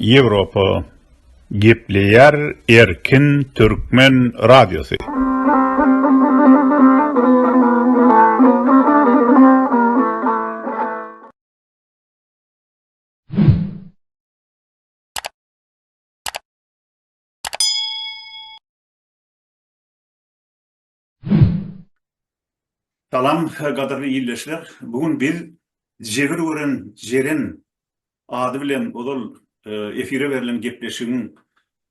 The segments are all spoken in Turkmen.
Ýewropa gepleýär erkin türkmen radiosy. Salam gadyrly ildeşler. Bu gün biz Jebir gören Jeren ady bilen ozal efire berlen gepleşigiň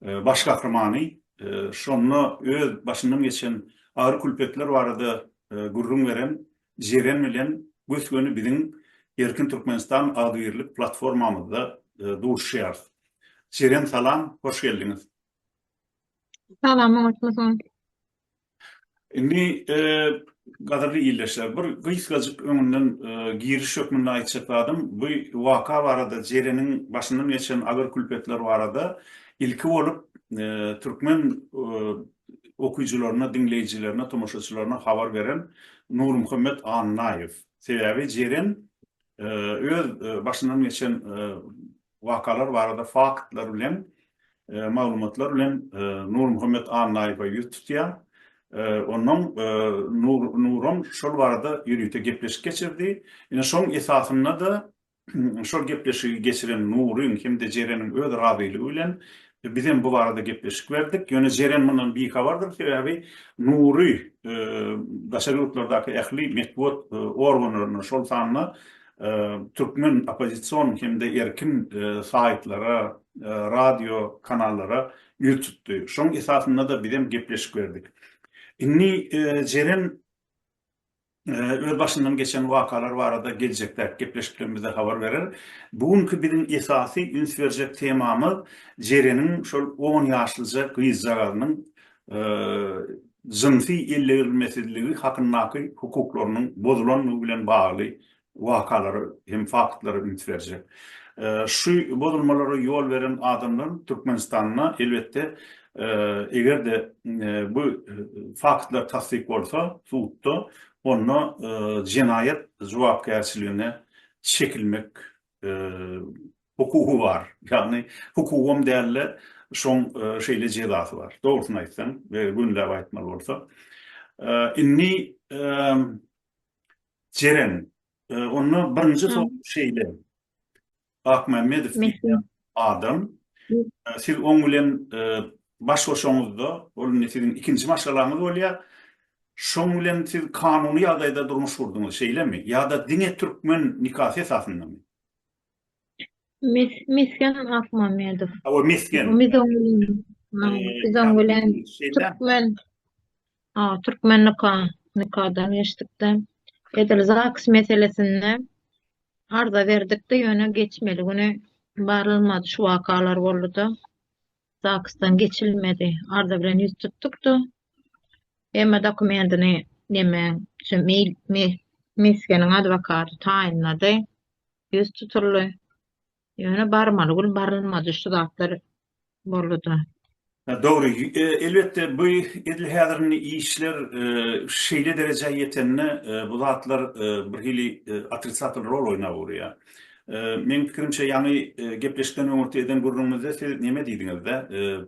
baş gahrymany, şonda öz başyndan geçen agyr külpetler barada gürrüň beren Jeren bilen gös-göni biziň Erkin Türkmenistan agzybirlik platformamyzda duşuşýarys. Jeren salam, hoş geldiňiz. Salam, oňatmysyň? Indi gadyrly ildeşler, bir gysgajyk öňünden giriş hökmünde aýtjak zadym, bu waka barada, Jereniň başyndan geçen agyr-külpetler barada ilki bolup türkmen okyjylaryna, diňleýjilerine, tomaşaçylaryna habar beren Nurmuhammet Annaýew. Sebäbi Jeren öz başyndan geçen wakalar barada faktlar bilen, maglumatlar bilen Nurmuhammet Annaýewe ýüz tutýar. Ondan Nuran şol barada ýörite gepleşik geçirdi. Ine, şoň esasynda-da şol gepleşigi geçiren Nuryň hem-de Jereniň öz razylygy bilen biz hem bu barada gepleşik berdik. Ýöne Jeren mundan bihabardyr, sebäbi Nury daşary ýurtlardaky ähli metbugat organlaryna, şol sanda türkmen oppozision hem-de erkin saýtlara, radio kanallara ýüz tutdy. Şoň esasynda-da biz hem gepleşik berdik. Indi Jeren öz başyndan geçen wakalar barada geljekdäki gepleşiklerimizde habar berer. Bu günki biziň esasy üns berjek temamyz Jereniň şol on ýaşlyja gyzjagazynyň jynsy ellegirilmesizligi hakyndaky hukuklarynyň bozulandygy bilen bagly wakalara hem faktlara üns berjek. Şu bozulmalara ýol beren adamlaryň Türkmenistanda, elbetde, eger-de bu faktlar tassyk bolsa sudda, onda jenaýat jogapkärçiligine çekilmek hukugy bar. Ýagny hukugam däl-de, şoň şeýle jezasy bar. Dogrusyny aýtsaň we gönüläp aýtmaly bolsa. Indi Jeren, onda birinji sowal şeýle. Akmämmedow diýýän adam. Siz oň bilen baş goşaňyzda, ol indi siziň ikinji maşgalaňyz bolýar. Şoň bilen siz kanuny ýagdaýda durmuş gurduňyz, şeýlemi? Ýa-da diňe türkmen nikasy esasyndamy? Mesgen Akmamedow. Hawa, Mesgen. Biz oň bilen türkmen Türkmennika nikadan geçdikde edil zaks meselesinde arza berdikde ýöne geçmeli güni barylmady şu wakalar bolduda zaksdan geçilmedi arza bilen ýüz tutdukda emma dokumentini neme şu meýil mesgeniň adwokaty taýynlady ýüz tutuldy Ýöne barmaly gün barylmady şu zatlar boldy-da. Dogry, elbetde bu edil häzir indi işler şeýle derejä ýetende bu zatlar birhili otrisatel rol oýnap urýar. Meň pikirimçe ýaňy gepleşikden öňürti eden gürrüňimizde siz neme diýdiňiz-de,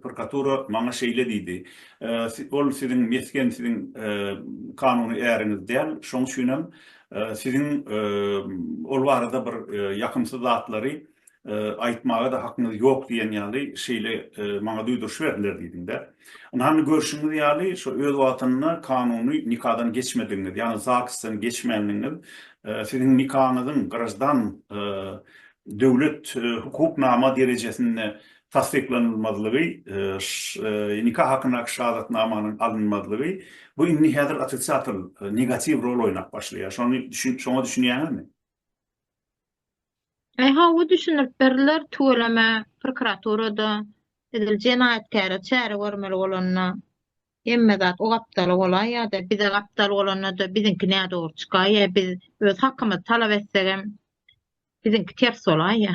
prokuratura maňa şeýle diýdi, ol siziň mesgen, siziň kanuny äriňiz däl, şoň üçin hem Siziň ol barada bir ýakymsyz zatlary aýtmaga-da hakyňyz ýok diýen ýaly şeýle maňa duýduryş berdiler diýdiň-dä. Ynha, görşüňiz ýaly, şo öz wagtynda kanuny nikadan geçmedigiňiz, ýagny ZAGS-dan geçmändigiňiz, siziň nikaňyzyň graždan, döwlet hukuk nama derejesinde tassyklanylmazlygy, nika hakyndaky şahadatnamanyň alynmazlygy, bu indi häzir otrisiatel, negatiw rol oýnap başlaýar. Şony düşün, şoňa düşünýäňizmi? Ehe, bu düşündirip berdiler tüweleme prokuraturada edil jenaýatkäre çäre görmeli bolanda. Hemme zat o gapdala bolaýýa-da, bize gapdal bolanda-da biziňki nädogry çykaýýa, biz öz hakymyzy talap etsegem, biziňki ters bolaýýa.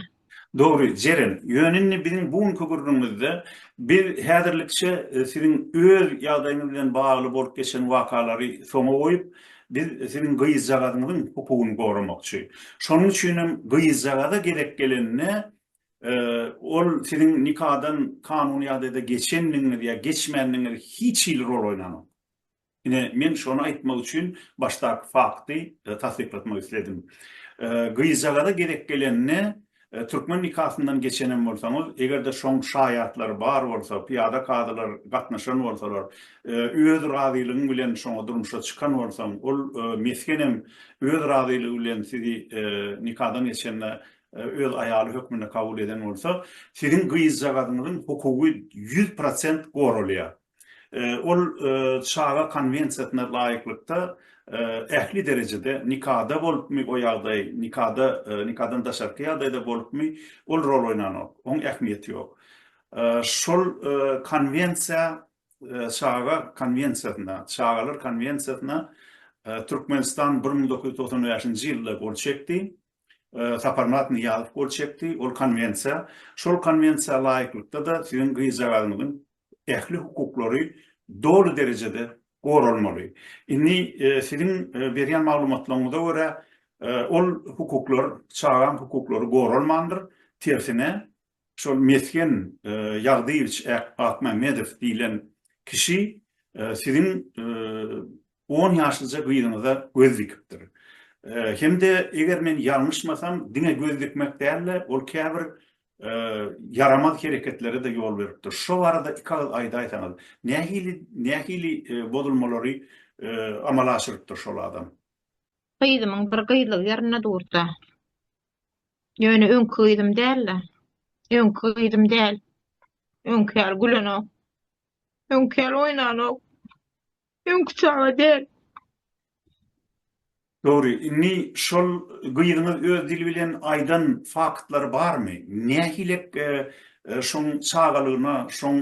Dogry, Jeren. Ýöne indi biziň bu günki gürrüňimizde biz häzirlikçe siziň öz ýagdaýyňyz bilen bagly bolup geçen wakalary soňa goýup, biz siziň gyzjagazyňyzyň hukugyny goramakçy. Şonuň üçinem gyzjagaza gezek gelende ol siziň nikadan kanuny ýagdaýda geçendigiňiz ýa geçmändigiňiz hiç hili rol oýnanok. Ine, men şony aýtmak üçin başdaky fakty tassyklatmak isledim. Gyzjagaza gerek gelende, türkmen nikasyndan geçenem bolsaňyz, eger-de şoň şaýatlary bar bolsa, pyýada kazylar gatnaşan bolsalar, öz razylygyň bilen şoňa durmuşa çykan bolsaň, ol mesgenem öz razylygy bilen sizi nikadan geçende öz aýaly hökmünde kabul eden bolsa, siziň gyzjagazyňyzyň hukugy ýüz prosent goralýar. Ol Çaga konwensiýasyna laýyklykda ähli derejede, nikada bolupmy o ýagdaý, nikada, nikadan daşarky ýagdaýda bolupmy, ol rol oýnanok, oň ähmiýeti ýok. Şol konwensiýa Çaga konwensiýasyna, Çagalar konwensiýasyna Türkmenistan bir müň dokuz ýüz togsan bäşinji ýylda gol çekdi. Saparmyrat Nyýazow gol çekdi. Ol konwensiýa, şol konwensiýa laýyklykda-da siziň gyzjagazymyzyň ähli hukuklary doly derejede goralmaly. Indi siziň berýän maglumatlaryňyza görä, ol hukuklar, çagaň hukuklary goralmandyr, tersine, Şol Mesgen Ýagdyýewiç Akmämmedow diýlen kişi siziň on ýaşlyja gyzyňyza göz dikipdir. Hem-de eger men ýalňyşmasam, diňe göz dikmek däl-de, ol käbir ýaramaz hereketlere-de ýol beripdir. Şo barada iki agyz aýdaýsaňyz, nähili, nähili bozulmalary amala aşyrypdyr şol adam? Gyzymyň bir gyzlyk ýerinde dursa, Ýöne öňki gyzym däl-de. Öňki gyzym däl. Öňki ýaly gülenok. Öňki ýaly oýnanok. Öňki çaga däl. Dogry, indi şol gyzyňyz öz dili bilen aýdan faktlary barmy? Nähilek şoň çagalygyna, şoň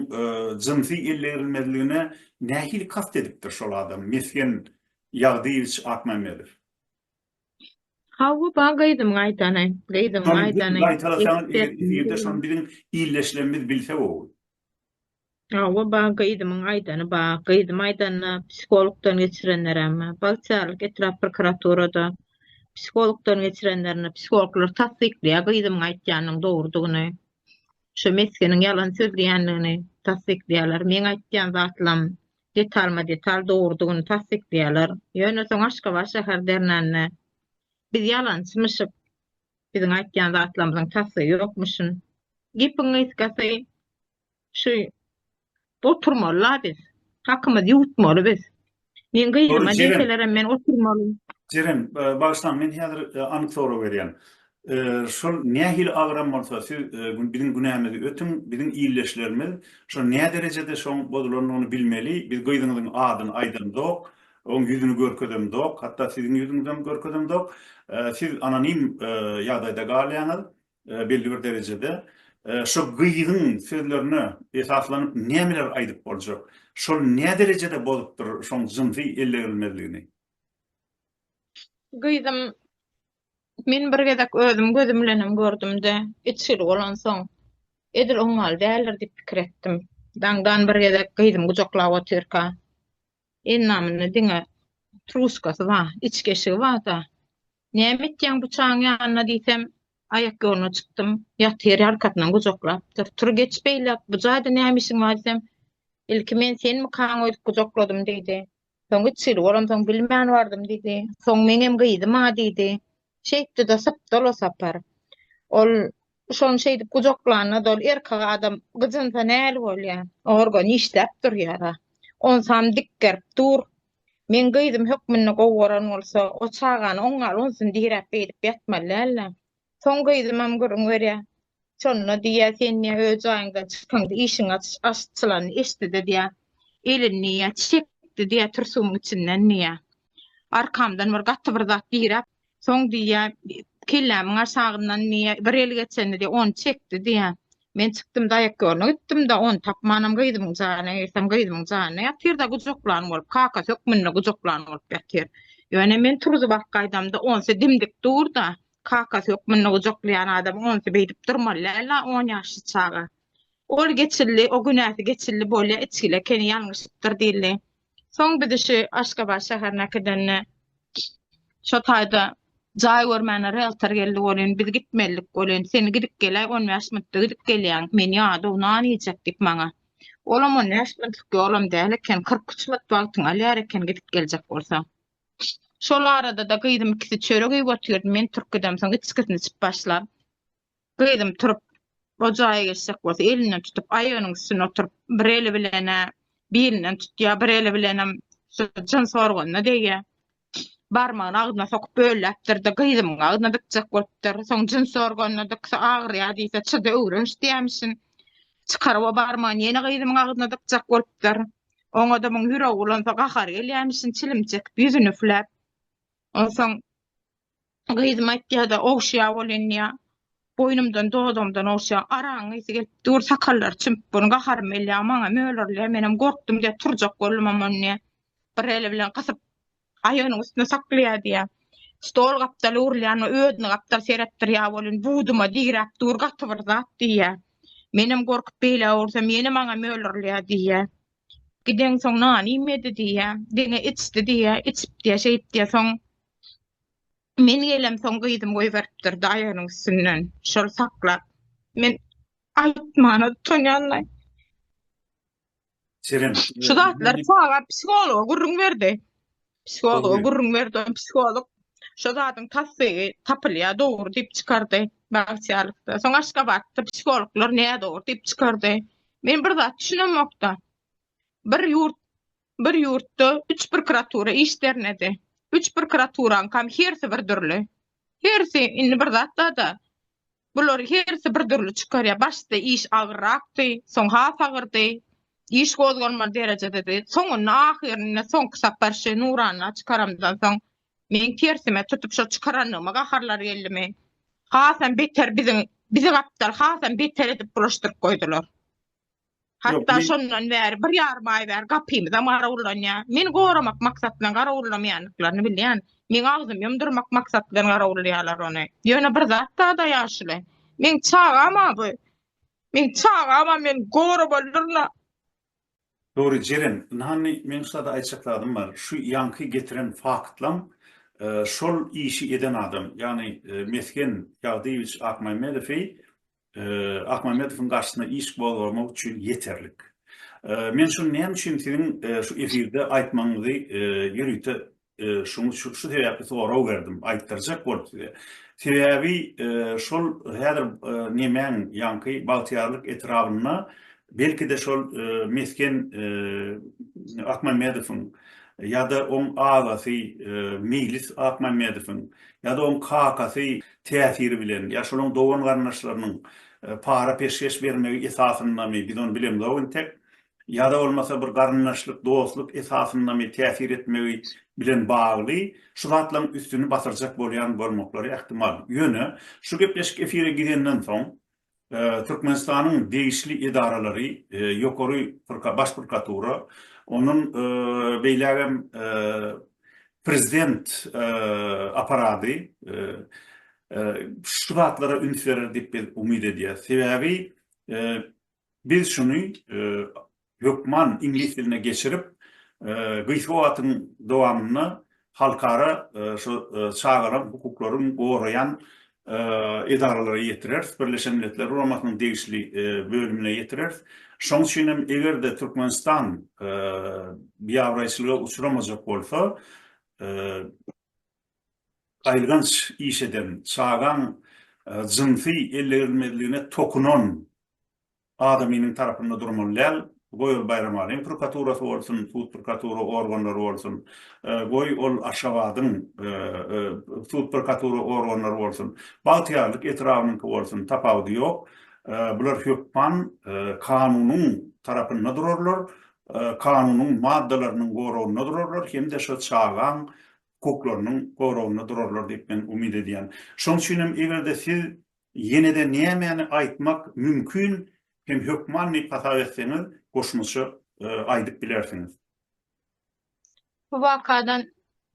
jynsy ellerilmezligine nähili kast edipdir şol adam, Mesgen Ýagdyýewiç Akmämmedow? Hawa-ba gyzymyň aýdany. Gyzymyň aýdany. Gaýtalasaňyz eger efirde şony biziň illeşlerimiz bilse gowy. Hawa-ba gyzymyň aýdany ba. Gyzym aýdanda psihologdan geçirenlerem ba. Bagtyýarlyk etrap prokuraturada psihologdan geçirenlerini psihologlar tassyklaýar gyzymyň aýtýanynyň dogrudygyny. Şu mesgeniň ýalan sözleýändigini tassyklaýarlar. Meň aýtýan zatlam detalma-detal dogrudygyny tassyklaýarlar. Ýöne soň Aşgabat şäher dernände, Biz ýalançymyşyk, biziň aýtýan zatlarymyzyň tassygy ýokmuşyn. Gepiň gysgasy, şu oturmaly-la biz, hakymyzy ýuwutmaly biz. Meň gyzyma diýselerem, men oturmaly. Jeren, bagyşlaň, men häzir anyk sorag berýän. Şol nähili agram bolsa, siz biziň günämizi ötüň, biziň ildeşlerimiz şo näderejede şoň bozulandygyny bilmeli, biz gyzyňyzyň adyny aýdamzok, oň ýüzüni görkezemzok, hatda siziň ýüzüňizem görkezemzok, siz anonim ýagdaýda galýaňyz belli bir derejede, şo gyzyň sözlerine esaslanyp nämeler aýdyp boljak, şol näderejede bozupdyr şoň jynsy ellegerilmezligini? Gyzym Men bir gezek özüm gözüm bilenem gördüm-de, içgili bolansoň, edil oň ýaly däldir diýip pikir etdim. Daňdan bir gezek gyzym gujaklap otyrka, endamynda diňe truskasy bar, içki eşigi bar-da. Näme etýäň bu çagaň ýanynda diýsem, aýak ýoluna çykdym, ýatyr, ýarkasyndan gujaklapdyr. Tur geç beýläk, bu jaýda näme işiň bar diýsem, ilki men senmikaň öýdüp gujakladym diýdi. Soň üç ýyl bolansoň bilmän bardym diýdi. Soň meňem gyzym-a diýdi. Şeýtdi-de sypdyl o sapar. Ol şony şeýdip gujaklanda-da ol erkek adam gyjynsa näl bolýa? Organ işläp durýar-a. Onsam dik gerip dur. Meň gyzym hökmünde gowy gören bolsa, o çagany oňňal onsyn diräp beýdip ýatmaly däldi. Soň gyzymam gürrüň berýär. Şonda diýýär, sen diýýär, öz jaýyňdan çykyňda işiň açylan eşitdi-de diýýär. Elini diýýär, çekdi diýýär türsügiň içinden diýýär. Arkamdan bir gaty bir zat diräp, soň diýýär, kellämiň aşagyndan diýýär, bir el geçendi diýýär, ony çekdi diýýär. Men çykdym daýak ýoluna gitdim-de, ony tapmanam gyzymyň jaýyna girsem, gyzymyň jaýynda ýatyr-da gujaklan bolup, kakasy hökmünde gujaklan bolup ýatyr. Ýöne men turzup arkaýdamda, onsy dimdik dur-da, Kakasy hökmünde gujaklaýan adam onsy beýdip durmaly däl-a, on ýaşly çaga. Ol geçildi, o günäsi geçildi bolýa, içgil ekeni, ýalňyşypdyr diýildi. Soň bizi şu Aşgabat şäherine äkidende şo taýda jaý görmäne realtor geldi welin, biz gitmelidik welin, sen gidip geläý, on bäş minutda gidip gelýäň, men ýadaw nan iýjek diýip maňa. Olam on bäş minutlyk ýolam däl eken, kyrk üç minut wagtyňy alýar eken gidip geljek bolsaň. Şol arada-da gyzym ikisi çörek iýip otyrdy, men turup gidemsoň içgisini içip başlap, gyzym turup o jaýa geçjek bolsa elinden tutup aýagynyň üstünde oturyp bir eli bilen-ä bilinden tutýar, bir eli bilenem şu jyns organyna degýär. Barmagyny agzyna sokup bölläpdir-de gyzymyň agzyna dykjak bolupdyr. Soň jyns organyna dyksa agyrýar diýse çyda öwrenç diýermişin. Çykaryp o barmagyny ýene gyzymyň agzyna dykjak bolupdyr. Oňa-da muň ýüregi ulansa gahary gelýämişin, çilim çekip, ýüzüni üfläp. Onsoň gyzym aýtýar-da, ogşýar ol inýär. Boýnumdan, dodagymdan ogşýar. Aragyň ysy gelip dur, sakallary çümüp dur, gaharym gelýär, maňa mölerlär. Menem gorkdum diýýär, turjak boldum, amman diýýär, bir eli bilen gysyp, Gaýygynyň üstüne saklaýar diýýär. Stol gapdaly urulýan we özüni gapdal seretdirýär welin, buduma diräp dur, gaty bir zat diýýär. Menem gorkup beýle ursam, ýene maňa mölürlýär diýýär. Gideňsoň nany iýmedi diýýär. Diňe içdi diýýär. Içip diýýär, şeýip diýýär. Soň men gelemsoň gyzym goýberipdir gaýygynyň üstünden. Şol saklap. Men aýtmana utanýan-laý. Seren. Şu zatlar çaga psihologa gürrüň berdi. Psihologa Dogry. gürrüň berdi. on Psiholog şu zadyň tassygy tapylýar, dogry diýip çykardy bagtyýarlykda. Soň Aşgabatda psihologlar näme dogry diýip çykardy. Men bir zat düşünemokda. Bir ýurt bir ýurtda üç prokuratura iş dernedi. Üç prokuraturan kam hersi bir dürli. Hersi indi bir zatda da Bular hersi bir dürli çykarýar. Başda iş agyrrakdy, soň has agyrdy. Iş gozgalmaz derejededi. Soňunda ahyrynda soňky sapar şu nurana çykaramdan soň men tersime tutup şo çykarandygyma gaharlar geldi men. Hasam beter biziň bizi gapdal hasam beter edip bulaşdyryp goýdular. Hatda şondan bäri bir ýarym aý bäri gapymyzam garawullanýar. Meni goramak maksat bilen garawullamaýandyklaryny bilýän. Meň agzym ýumdurmak maksat bilen garawullaýarlar ony. Ýöne bir zat bar-da ýaşuly. Meň çagam-a bu. Meň çagam-a meni goramalydyryn-a. Dogry, Jeren. Ynhany, meň şulada aýtjak zadym bar. Şu ýaňky getiren faktlaň şol işi eden adam, ýagny Mesgen Ýagdyýewiç Akmämmedowy Akmämmedowyň garşysyna iş gozgamak üçin ýeterlik. Men şuny näme üçin siziň şu efirde aýtmagyňyzy ýörite şuňy şu sebäpli sorag berdim, aýtdyrjak bolup size. Sebäbi şol häzir nemäň ýaňky Bagtyýarlyk etrabynda belki-de şol mesgen Akmämmedowyň ýa-da oň agasy Meýlis Akmämmedowyň ýa-da oň kakasy täsiri bilen, ýa şolaň dogan-garyndaşlarynyň para-peşgeş bermegi esasyndamy, biz ony bilemzok intek, ýa-da bolmasa bir garyndaşlyk, dostluk esasyndamy täsir etmegi bilen bagly şu zatlaryň üstüni basyrjak bolýan bolmaklary ähtimal. Ýöne, şu gepleşik efire gidenden soň, Türkmenistanyň degişli edaralary, Ýokary Baş prokuratura, ondan beýläk hem prezident apparady şu zatlara üns berer diýip biz umyt edýäris. Sebäbi biz şuny hökman iňlis diline geçirip, gysga wagtyň dowamynda halkara şu çagalaryň hukuklaryny goraýan edaralara ýetireris, Birleşen Milletler Guramasynyň degişli bölümine ýetireris. Şoň üçin hem eger-de Türkmenistan biabraýçylyga uçramajak bolsa, gaýylganç iş eden, çagaň jynsy ellerilmezligine tokunan Adamynyň tarapynda durmaly däl. Goý ol Baýramalyň prokuraturasy bolsun, sud prokuratura organlary bolsun, goý ol Aşgabadyň sud prokuratura organlary bolsun, Bagtyýarlyk etrabynyňky bolsun, tapawudy ýok. Bular hökman kanunyň tarapynda durarlar, kanunyň maddalarynyň goragynda durarlar hem-de şo çagaň hukuklarynyň goragynda durarlar diýip men umyt edýän. Şoň üçin hem eger-de siz Ýenede nämäni aýtmak mümkin hem hökman diýip hasap etseňiz goşmaça aýdyp bilersiňiz. Bu wakadan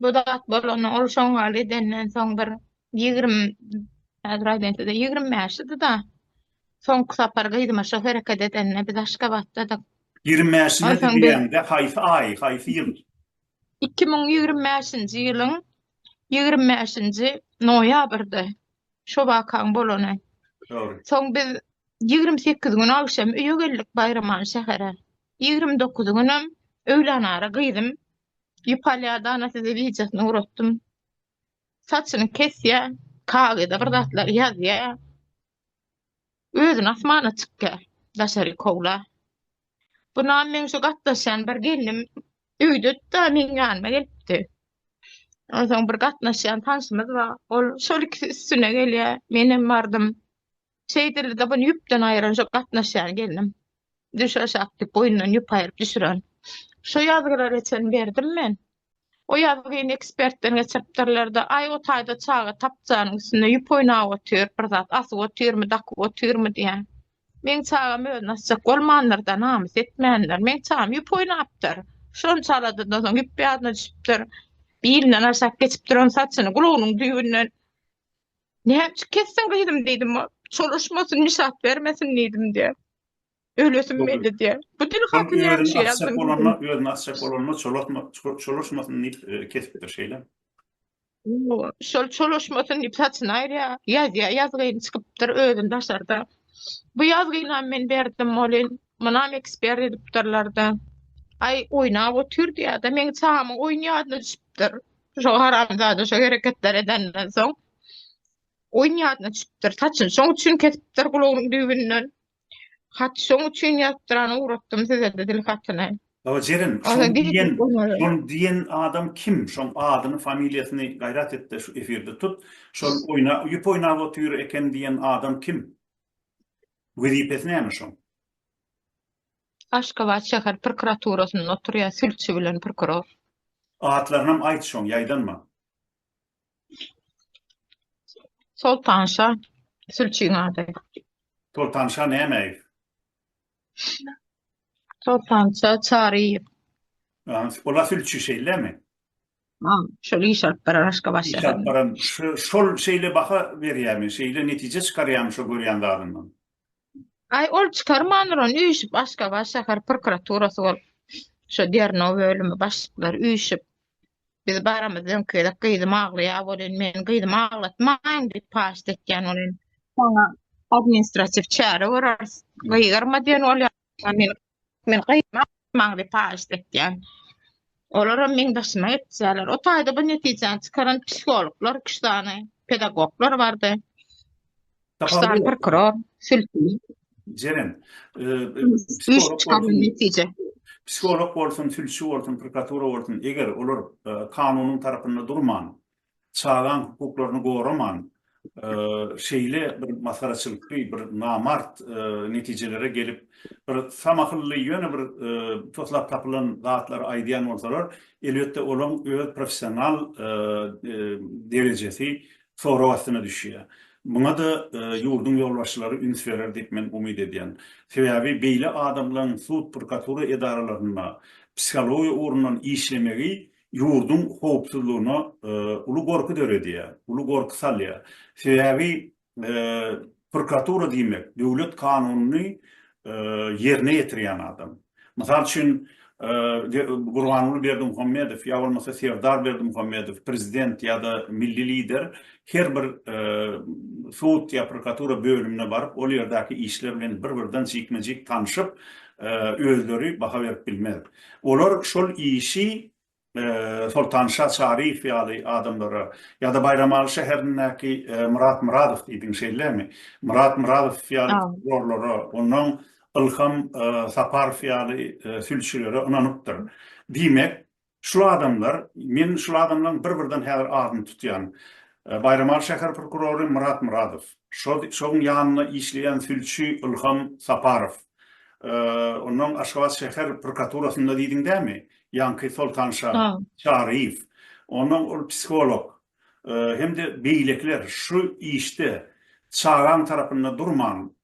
bu zat bolanda ol şoňňal edenden soň bir ýigrim häzir aýdaýyn size ýigrim bäş ydyda soňky sapar gyzyma şo hereket edende biz aşgabatdadyk. Ýigrim bäş ýyl diýende haýsy aý haýsy ýyl? Iki müň ýigrimi bäşinji ýylyň ýigrimi bäşinji noýabrdy şo wakaň bolany. Dogry. Soň biz ýigrimi sekiz gün agşam öýe geldik Baýramany şähere. Ýigrimi dokuzy günem öýlänara gyzym Ýupaliýa Dana size wideosyny gratdym. Saçyny kesýär, kagyza bir zatlar ýazýar. Özün asmana çykýa daşary kowla. Bunam meň şu gatnaşýan bir gelnim öýdüdda meň ýanyma gelipdi. Onsoň bir gatnaşýan tanşymyz bar. Ol şol ikisi üstüne gelýä. Menem bardym. Şeýdildi-de buny ýüpden aýyran şu gatnaşýan gelnim. Düş aşak diýip boýundan ýüp aýyryp düşüren. Şu ýazgylary çen berdim men. O ýazgyny ekspertden geçiripdirler-de, aý, o taýda çaga tapjanyň üstünde ýüp oýnap otyr, bir zat asyp otyrmy, dakyp otyrmy diýýän. Meň çagam özüni asjak bolmandyr-da, namys etmändir. Meň çagam ýüp oýnapdyr. Şonça aladadan soň ýüp ýadyna düşüpdir. Bilinden aşak geçip duran saçyny gulagynyň düýbünden Näme üçin kesdiň gyzym diýdim. Çolaşmasyn, nişat bermesin diýdim diýýär. Ölesim geldi diýýär. Bu dil hakyny ýaly şu ýazgyň dilini. Bolanda, özüni asjak bolanda çolatma, çolaşmasyn diýip kesipdir şeýle. Şol çolaşmasyn diýip saçyny aýyrýar, ýazýar, ýazgyny çykypdyr özüni daşarda. Bu ýazgynam men berdim bolin, munam ekspert edipdirler-de. Aý, oýnap otyr diýýär-de, meň çagamyň oýun ýadyna düşüpdir. Şo haramzada şo hereketleri edenden soň oýun ýadyna düşüpdir. Saçyny şoň üçin kesipdir gulagynyň düýbünden. Hat şoň üçin ýazdyran ugratdym sizede dil hatyny. Baba Jeren, şoň diýen, şoň diýen adam kim? Şoň adyny, familiýasyny gaýrat etde şu efirde tut. Şol oýna, ýüp oýnap otyr eken diýen adam kim? Wezipesi näme şoň? Aşgabat şäher prokuraturasynda oturýar, sülçi bilen prokuror. Atlarynam aýt şoň, ýaýdanma. Soltanşa sülçiň ady. Soltanşa Nämäýew. Soltanşa Çaryýew. Ola sülçi şeýlemi? Ha, şol iş alyp baran Aşgabat şäherinde. Iş alyp baran, şol şeýle baha berýärmi, şeýle netije çykarýarmy şo görýän zadyndan? Aý ol çykarmandyran üýşüp Aşgabat şäher prokuraturasy bolup şo derňew bölümi başlyklary üýşüp biz baramyz öňki gezek gyzym aglaýar bolýan meniň gyzymy aglatmaň diýip paşt etýän bolýan. Saňa administratiw çäre göreriz. Gyýgyrma diýen bolýar. Meniň Men gaýtmak maňa paýyş etýän. Olaram meň daşyma etýärler. O taýda bu netijäni çykaran psihologlar, üç sany pedagoglar bardy. Üç sany prokuror, sültün. Jeren, psiholog bolsun, sülçi bolsun, prokuratura bolsun, eger olar kanunyň tarapynda durman, çagaň hukuklaryny goraman, şeýle bir masgaraçylykly, bir namart netijelere gelip, bir samahylly, ýöne bir toslap tapylan zatlary aýdýan bolsalar, elbetde, olaň öz professional derejesi sorag astyna düşýär. Muňa-da ýurduň ýolbaşçylary üns berer diýip, men umyt edýän. Sebäbi beýle adamlaň sud-prokuratura edaralarynda psihologiýa ugrundan işlemegi ýurduň howpsuzlygyna uly gorky döredýär, uly gorky salýar. Sebäbi prokuratura diýmek, döwlet kanunyny ýerine ýetirýän adam. Mysal üçin, Gurbanguly Berdimuhamedow ýa bolmasa Serdar Berdimuhamedow, prezident ýa-da milli lider her bir sud ýa prokuratura bölümine baryp, ol ýerdäki işler bilen bir-birden jikme-jik tanşyp, özleri baha berip bilmez. Olar şol işi Soltanşa Çaryýew ýaly adamlara ýa-da Baýramaly şäherindäki Myrat Myradow diýdiň şeýlemi? Myrat Myradow ýaly prokurorlara, onnoň Ylham Saparow ýaly sülçülere ynanypdyr. Diýmek, şu adamlar, men şul adamlaryň bir-birden häzir adyny tutýan. Baýramaly şäher prokurory Myrat Myradow, şoň ýanynda işleýän sülçi Ylham Saparow. Ondan Aşgabat şäher prokuraturasynda diýdiň dämi? Ýaňky Soltan şa, Çaryýew. Ondan ol psiholog hem-de beýlekiler şu işde çagaň tarapynda durman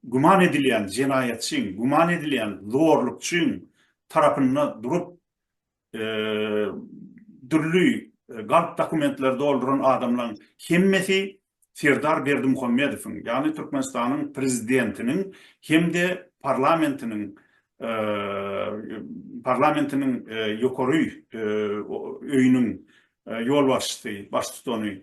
güman edilýän jenaýatçyň, güman edilýän zorlukçyň tarapynda durup dürli galp dokumentleri dolduran adamlaryň hemmesi Serdar Berdimuhamedowyň, ýagny Türkmenistanyň prezidentiniň hem-de parlamentiniň parlamentiniň ýokary öýüniň ýolbaşçysy, baştutany,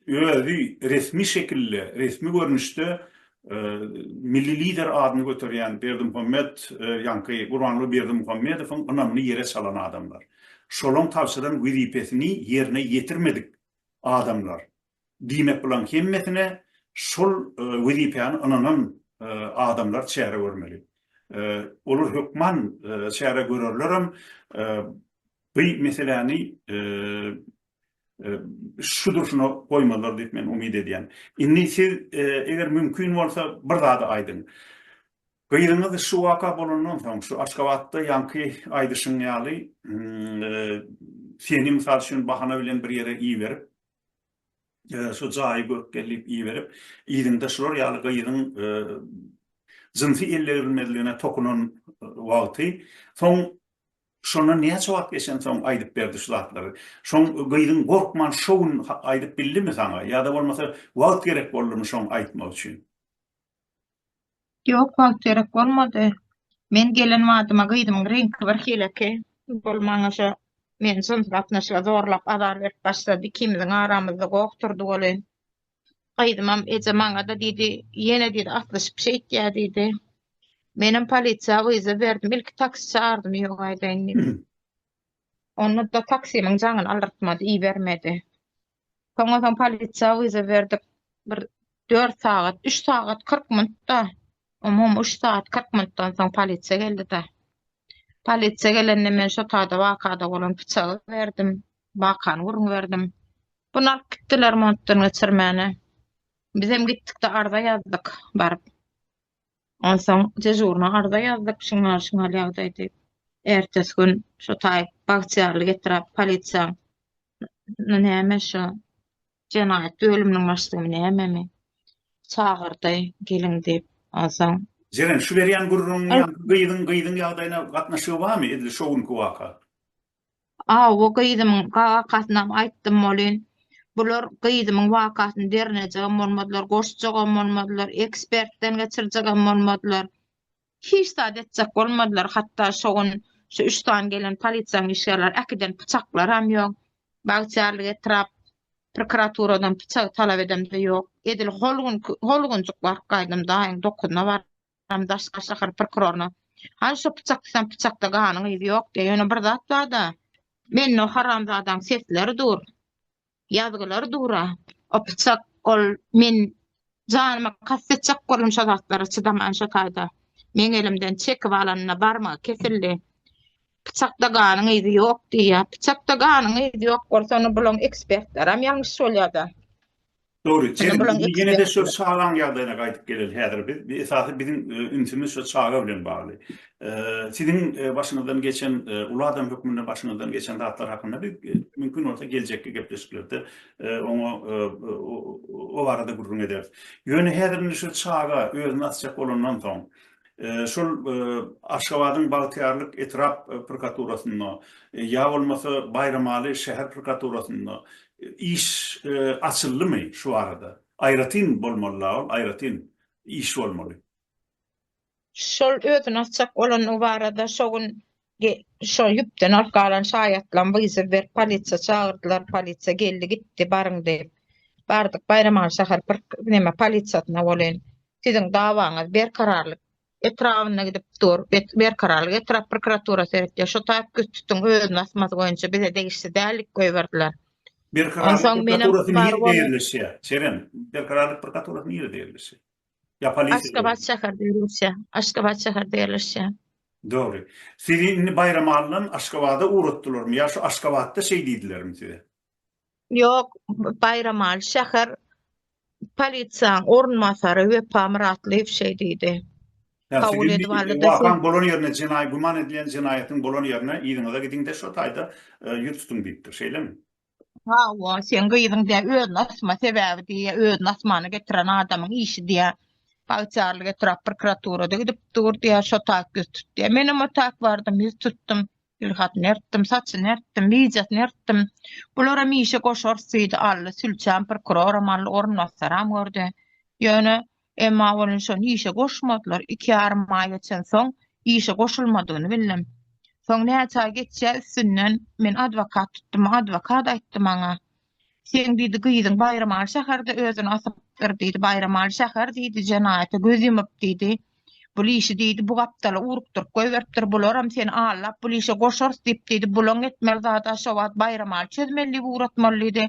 özi resmi şekilde, resmi görnüşde Milli Lider adyny göterýän Berdimuhamet, ýaňky Gurbanguly Berdimuhamedowyň ynamyny ýere çalan adamlar. Şolaň tabşyran wezipesini ýerine ýetirmedik adamlar. Diýmek bulaň hemmesine şol wezipäni ynanan adamlar çäre görmeli. Olar hökman çäre görerlerem bu meseläni şu durşuna goýmazlar diýip men umyt edýän. Indi siz eger mümkin bolsa bir zady aýdyň. Gyzyňyz şu waka bolandan soň şu Aşgabatda ýaňky aýdyşyň ýaly seni mysal üçin bahana bilen bir ýere iberip şu jaýy görüp gel diýip iberip, yzyňda şular ýaly gyzyň jynsy ellebilmezligine tokunan wagty, soň şondan näçe wagt geçensoň aýdyp berdi şu zatlary? Şoň gyzyň gorkman şo gün aýdyp bildimi saňa ýa-da bolmasa wagt gerek boldumy şoň aýtmak üçin? Ýok, wagt gerek bolmady. Men gelen badyma gyzymyň reňki birhileki bolup, maňa şo meni jyns gatnaşyga zorlap azar berip başlady. Ikimiziň aramyzda goh turdy welin, gyzymam eje maňa-da diýdi, ýene diýdi atlyşyp şeýtýä diýdi. Menem polisiýa wyza berdim, ilki taksi çagardym ýok aýdaýyn diýip. Onda-da taksimiň jaňyny aldyrtmady, ibermedi. Soňa soň polisiýa wiza berdik. Bir 4 sagat, 3 sagat 40 minutda. Umum 3 sagat 40 minutdan soň polisiýa geldi-de. Polisiýa gelende men şu tada wakada bolan pyçagy berdim. Wakany gürrüň berdim. Bunu alyp gitdiler montdan geçirmäne. Bizem gitdik-de arza ýazdyk baryp. Onsoň dežurna arza ýazdyk, şiňňal-şiňňal ýagdaý diýip. Ertesi gün şo taý bagtyýarlyk etrap polisiýaň näme şo jenaýat bölüminiň başlygymy nämemi çagyrdy, geliň diýip. Onsoň. Jeren, şu berýän gürrüňiň ýa gyzyň gyzyň ýagdaýyna gatnaşygy barmy, edil şo günki waka? Awy gyzymyň kakasynam aýtdym bolyn. Bular gyzymyň wakasyny derňejegem bolmadylar, goşjagam bolmadylar, ekspertden geçirjegem bolmadylar. Hiç zat etjek bolmadylar. Hatda şo gün şu üç sany gelen polisiýanyň işgärleri äkiden pyçaklaram ýok. Bagtyýarlyk etrap prokuraturadan pyçagy talap edemde ýok. Edil hol günki, hol günjük baryp gaýdym daýyň dokuzynda baryp. Hem daşky şäher prokuroryna, Haý, şo pyçak diýsem pyçakda ganyň yzy ýok-da, ýöne bir zat bar-da, mende o haramzadaň sesleri dur, ýazgylary dur-a, o pyçak, ol, men janyma kast etjek boldum şo zatlara çydaman şo taýda. Meň elimden çekip alanyna barmagy kesildi. Pyçakda ganyň yzy ýok diýýär. Pyçakda ganyň yzy ýok bolsa, onda bulaň ekspertlerem ýalňyş bolýar-da. Dogry, ýene-de şu çagaň ýagdaýyna gaýdyp geleli häzir biz. Esasy biziň ünsümiz şu çaga bilen bagly. Siziň başyňyzdan geçen, uly adam hökmünde başyňyzdan geçen zatlar hakynda biz mümkin bolsa geljekki gepleşiklerde oňa o barada gürrüň ederis. Ýöne häzir indi şu çaga özüni asjak bolandan soň, şol Aşgabadyň Bagtyýarlyk etrap prokuraturasynda ýa bolmasa Baýramaly şäher prokuraturasynda Iş açyldymy şu arada. Aýratyn bolmaly la ol aýratyn iş bolmaly. Şol özüni asjak bolandygy barada şo gün şo ýüpden alyp galan şaýatlam wyzyw berip polisiýa çagyrdylar polisiýa geldi gitdi baryň diýip bardyk baýramaly şäher bir neme polisiýasyna welin siziň dawaňyz berkararlyk etrabynda gidip dur, berkararlyk etrap prokuratura seretýär, şu taýyp güýç tutuň özüni asmasy boýunça bize degişli däl diýip goýberdiler. Berkararlyk prokuraturasy nirede ýerleşýär? Çeren, berkararlyk prokuraturasy nirede ýerleşýär? Ýa polisiýa? Aşgabat şäherde ýerleşýär. Aşgabat şäherde ýerleşýär. Dogry. Sizi indi Baýramalydan Aşgabada ugratdylarmy ýa şu Aşgabatda şeý diýdilermi size? Ýok, Baýramaly şäher polisiýanyň orunbasary Wepa Myratlyýew şeý diýdi. Kabul edip aldy-da, şu- Wakaň bolan ýerine, jenaý güman edilen jenaýatyň bolan ýerine yzyňyza gidiň-de, şo taýda ýüz tutuň diýipdir. Şeýlemi? Hawa, seň gyzyň diýýär, özüni asma, sebäbi diýýär, özüni asmana getiren adamyň işi diýýär, Bagtyýarlyk etrap prokuraturada gidip dur diýýär, şo taýda ýüz tut diýýär. Menem o taýda bardym, ýüz tutdum. Dilhatyny ertdim, saçyny ertdim, wideosyny ertdim. Bularam işe goşarys diýdi Ally, sülçäm, prokuroram Ally, orunbasaram gördi. Ýöne, emma welin şony işe goşmadylar. Iki ýarym aý geçen soň, işe goşulmadygyny bildim. Soň näçe aý geçýä üstünden, men adwokat tutdum, adwokat aýtdy maňa, Sen diýdi, gyzyň Baýramaly şäherde özüni asypdyr diýdi. Baýramaly şäher diýdi, jenaýata göz ýumup diýdi. Bul işi diýdi, bu gapdala urukdyryp goýberipdir. Bularam seni allap, bul işe goşarys diýip diýdi. Bulaň etmeli zady-a şo wagt Baýramaly çözmeli diýip ugratmaly diýdi.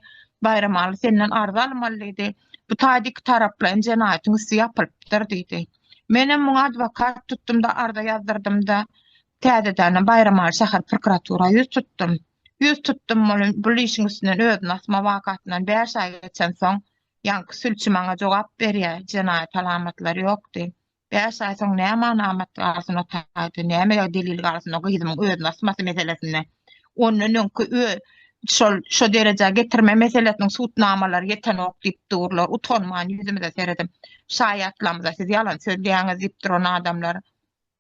Baýramaly senden arz almaly diýdi. Bu taýda iki taraplaýyn jenaýatyň üsti ýapylypdyr diýdi. Menem muňa adwokat tutdum-da, arza ýazdyrdym-da, täzedänem Baýramaly şäher prokuratura ýüz tutdum. Ýüz tutdum bul işiň üstünden özüni asma wakasyndan bäş aý geçensoň ýaňky sülçi maňa jogap berýär jenaýat alamatlary ýokdy bäş aý soň näme alamat galsyn o taýda näme delil galsyn o gyzymyň özüni asmasy meselesinde ondan öňki şol şo derejä getirme meselesiniň sud namalary ýetenok diýip durlar utanman ýüzümize seredip şaýatlarymyza siz ýalan sözleýäňiz diýip duran adamlar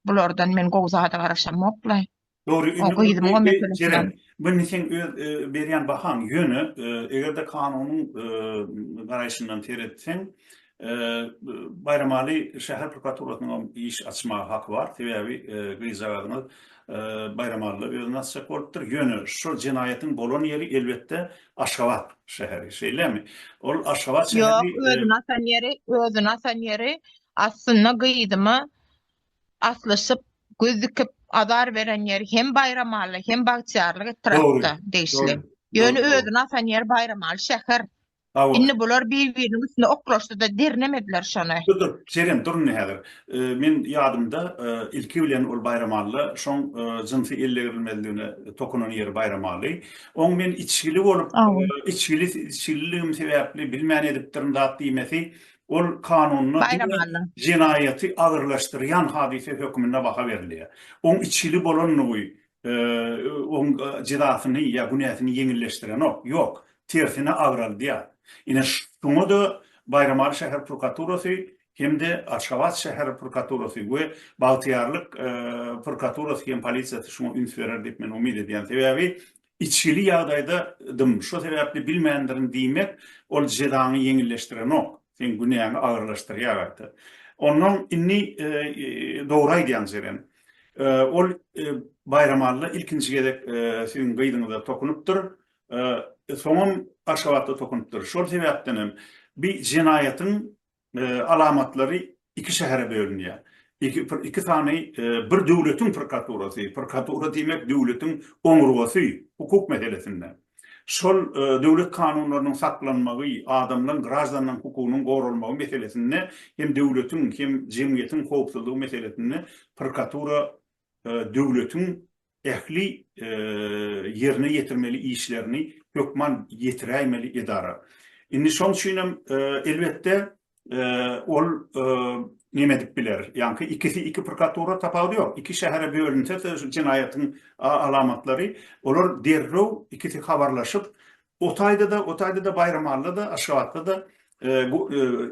bulardan men gowy zada garaşamok laý. Dogry indi muny Jeren muny seň öz berýän bahaň ýöne egerde kanunyň garaýşyndan seretseň Baýramaly şäher prokuraturasynyň hem iş açmaga haky bar sebäbi gyzjagazyňyz Baýramalyda özüni asjak bolupdyr ýöne şo jenaýatyň bolan ýeri elbetde Aşgabat şäheri şeýlemi ol Aşgabat şäheri ýok özüni asan ýeri özüni asan ýeri aslynda gyzyma aslyşyp, göz dikip, azar beren ýeri hem Baýramaly, hem Bagtyýarlyk etrapda degişli. Ýöne özüni asan ýeri Baýramaly şäher. Indi bular bir-biriniň üstüne oklaşdy-da, dernemediler şony. Dur, dur, seýren, dur indi häzir. Meň ýadymda, ilki bilen ol Baýramalyda şoň jynsy ellegirilmezligine tokunan ýeri Baýramaly. Oň men içgili bolup, içgili, içgililigim sebäpli bilmän edipdirin zat diýmesi Ol kanunda diňe jenaýaty agyrlaşdyrýan hadysa hökmünde baha berilýär. Oň içgili bolanlygy oň jezasyny ýa günäsini ýeňilleşdirenok, ýok, tersine agraldýar. Ine, şuňa-da Baýramaly şäher prokuraturasy hem-de Aşgabat şäher prokuraturasy we Bagtyýarlyk prokuraturasy hem polisiýasy şuňa üns berer diýip men umyt edýän. Sebäbi Içgili ýagdaýda dym, şo sebäpli bilmändirin diýmek, ol jezaňy ýeňilleşdirenok, seň günäňi agyrlaşdyrýar gaýta. Onnoň indi dogry aýdýaň Jeren. Ol Baýramalla ilkinji gezek siziň gyzyňyza tokunypdyr, soňam Aşgabatda tokunypdyr. Şol sebäpdenem bi jenaýatyň alamatlary iki şähere bölünýär. Iki sany bir döwletiň prokuraturasy, prokuratura diýmek döwletiň oňurgasy hukuk meselesinde. Şol döwlet kanunlarynyň saklanmagy, adamlaryň, graždanyň hukugynyň goralmagy meselesinde hem döwletiň, hem jemgyýetiň howpsuzlygy meselesinde prokuratura döwletiň ähli ýerine ýetirmeli işlerini hökman ýetiräýmeli edara. Indi şoň üçin hem, elbetde, ol neme edip biler? Ýaňky ikisi iki prokuratura tapawudy ýok. Iki şähere bölünse-de şu jenaýatyň alamatlary, olar derrew ikisi habarlaşyp, O taýda-da, o taýda-da Baýramalla-da, Aşgabatda-da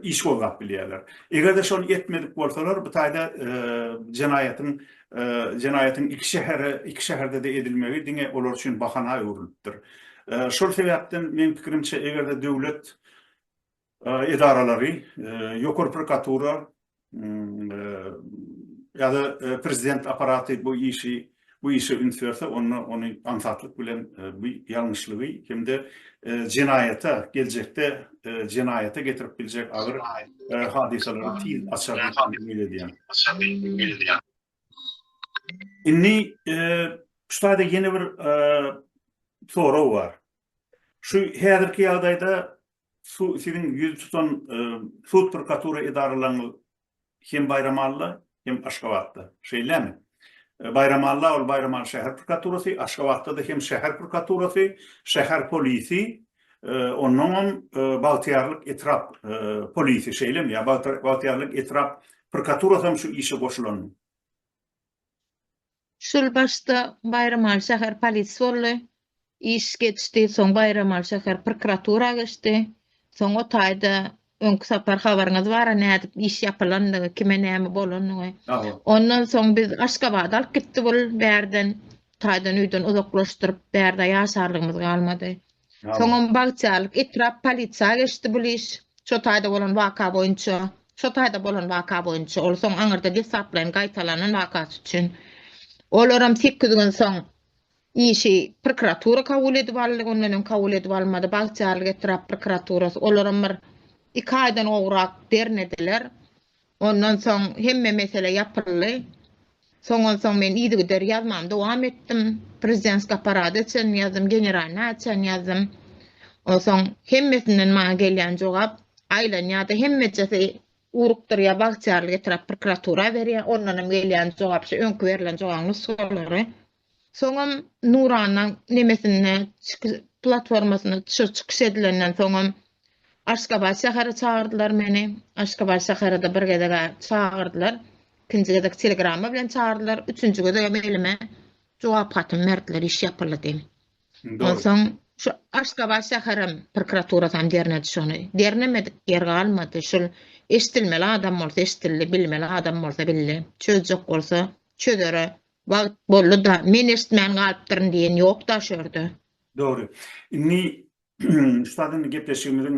iş gozgap bilýärler. Eger-de şony etmedik bolsalar, bu taýda jenaýatyň, jenaýatyň iki şähere, iki şäherde-de edilmegi diňe olar üçin bahana öwrülipdir. Şol sebäpden, meň pikirimçe, eger-de döwlet, edaralary, ýokary prokuratura ýa-da prezident apparaty bu işi bu işe üns berse, onda ony aňsatlyk bilen bu ýalňyşlygy hem-de jenaýata, geljekde jenaýata getirip biljek agyr hadysalary tiz açar diýip umyt edýän. Indi şu taýda ýene bir sorag bar. Şu häzirki ýagdaýda Su, siziň ýüz tutan sud prokuratura edaralaryňyz hem Baýramalla, hem Aşgabatda. Şeýlemi? Baýramalla ol Baýramaly şäher prokuraturasy, Aşgabatda-da hem şäher prokuraturasy, şäher polisi, onnoňam Bagtyýarlyk etrap polisi, şeýlemi? Ýa Bagtyýarlyk etrap prokuraturasam şu işe goşulanmy? Şol başda Baýramaly şäher polisi boldy. Iş geçdi, soň Baýramaly şäher prokuratura geçdi. Soň o taýda öňki sapar habaryňyz bar-a nädip iş ýapylandygy, kime näme bolanyny. Ondan soň biz Aşgabada alyp gitdi bul bärden taýdan öýden uzaklaşdyryp bärde ýaşarlygymyz galmady. Soňam bagtyýarlyk etrap polisiýa geçdi bul iş. Şo taýda bolan waka boýunça, şo taýda bolan waka boýunça, ol soň aňyrda deslaplaýyn gaýtalanan wakasy üçin. Olaram sekiz gün soň işi prokuratura kabul edip aldy, ondan öň kabul edip almady, bagtyýarlyk etrap prokuraturasy. Olaram bir iki aýdan gowrak dernedeler. Ondan soň hemme mesele ýapyldy. Soňansoň men yzygider ýazmamy dowam etdim. Prezidentskiý apparada çenli ýazdym, generalnaýa çenli ýazdym. Onsoň hemmesinden maňa gelýän jogap, aýlanýar-da, hemmejesi urukdyrýar, bagtyýarlyk etrap prokuratura berýär, ondanam gelýän jogap şu öňki berlen jogabyň nusgalary. Soňam Nurana nemesinde çykyş platformasynda çykyş çykyş edilenden soňam Aşgabat şähere çagyrdylar meni. Aşgabat şäherede bir gezegä çagyrdylar. Ikinji gezek telegrama bilen çagyrdylar. Üçünji gezegem elime jogap hatyny berdiler, iş ýapyldy diýip. Indi ol- Onsoň şu Aşgabat şäherem prokuraturasam dernedi şony. Dernemedik ýer galmady. Şul eşidilmeli adam bolsa eşidildi, bilmeli adam bolsa bildi. Çözjek bolsa çözere Wagt boldy-da, men eşitmän galypdyryn diýen ýok-da şu ýerde. Dogry. Indi şu zat indi gepleşigimiziň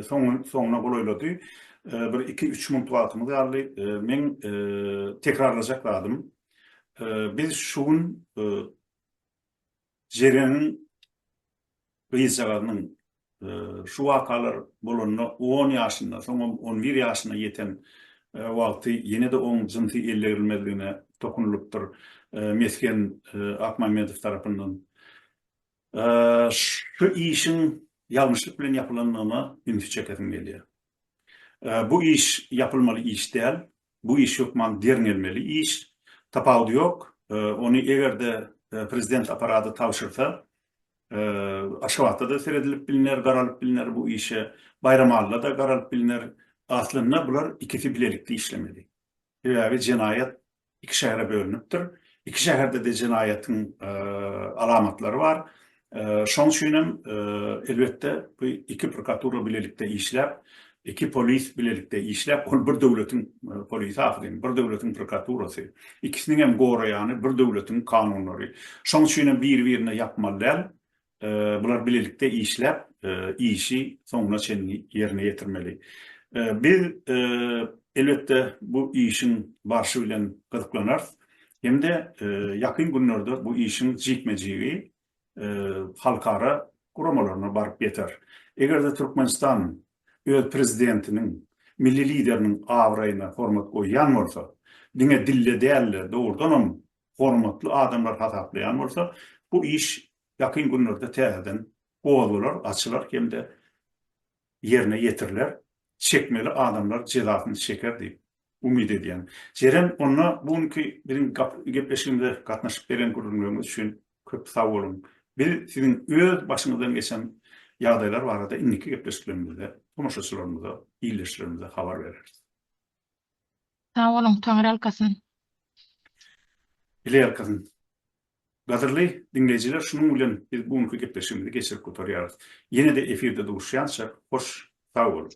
soňuna golaýlady. Bir iki-üç minutluk wagtymyz galdy. Meň tekrarlajak zadym, biz şu gün Jereňiň gyzjagazynyň şu wakalar bolanda on ýaşynda, soňam on bir ýaşyna ýeten wagty ýene-de oň jynsy ellerilmezligine dokunulypdyr Mesgen Akmamedow tarapyndan. Şu işiň ýalňyşlyk bilen ýapylandygyna ünsi çekesim gelýär. Bu iş ýapylmaly iş däl, Bu iş hökman derňelmeli iş. Tapawudy ýok. Ony eger-de prezident apparady tabşyrsa, Aşgabatda-da seredilip bilner, garalyp bilner bu işe, Baýramalyda-da garalyp bilner. Aslynda bular ikisi bilelikde işlemeli. Sebäbi jenaýat iki şähere bölünipdir. Iki şäherde-de jenaýatyň alamatlary bar. Şoň üçin hem, elbetde, bu iki prokuratura bilelikde işläp, iki polis bilelikde işläp, ol bir döwletiň polisi ahyry, indi bir döwletiň prokuraturasy. Ikisiniň hem goraýany bir döwletiň kanunlary. Şoň üçin hem biri-birine ýapmaly däl. Bular bilelikde işläp, işi soňuna çenli ýerine ýetirmeli. Biz, elbetde, bu işiň barşy bilen gyzyklanarys. hem-de ýakyn günlerde bu işiň jikme-jigi halkara guramalaryna baryp ýeter. Eger-de Türkmenistan öz Prezidentiniň, Milli Lideriniň abraýyna hormat goýýan bolsa, diňe dilde däl-de, dogrudanam hormatly adamlar hasaplaýan bolsa, bu iş ýakyn günlerde täzeden gozgalar, açylar hem-de ýerine ýetiriler, çekmeli adamlar jezasyny çeker diýip, umyt edýän. Jeren, onda bu günki biziň gepleşigimize gatnaşyp beren gürrüňleriňiz üçin köp sag boluň. Biz siziň öz başyňyzdan geçen ýagdaýlar barada indiki gepleşiklerimizde tomaşaçylarymyza, ildeşlerimize habar bereris. Sag boluň, Taňyrýalkasyn! Bileýalkasyn! Gadyrly diňleýjiler, şunuň bilen biz bu günki gepleşigimizi geçirip gutarýarys. Ýene-de efirde duşýança, hoş sag boluň!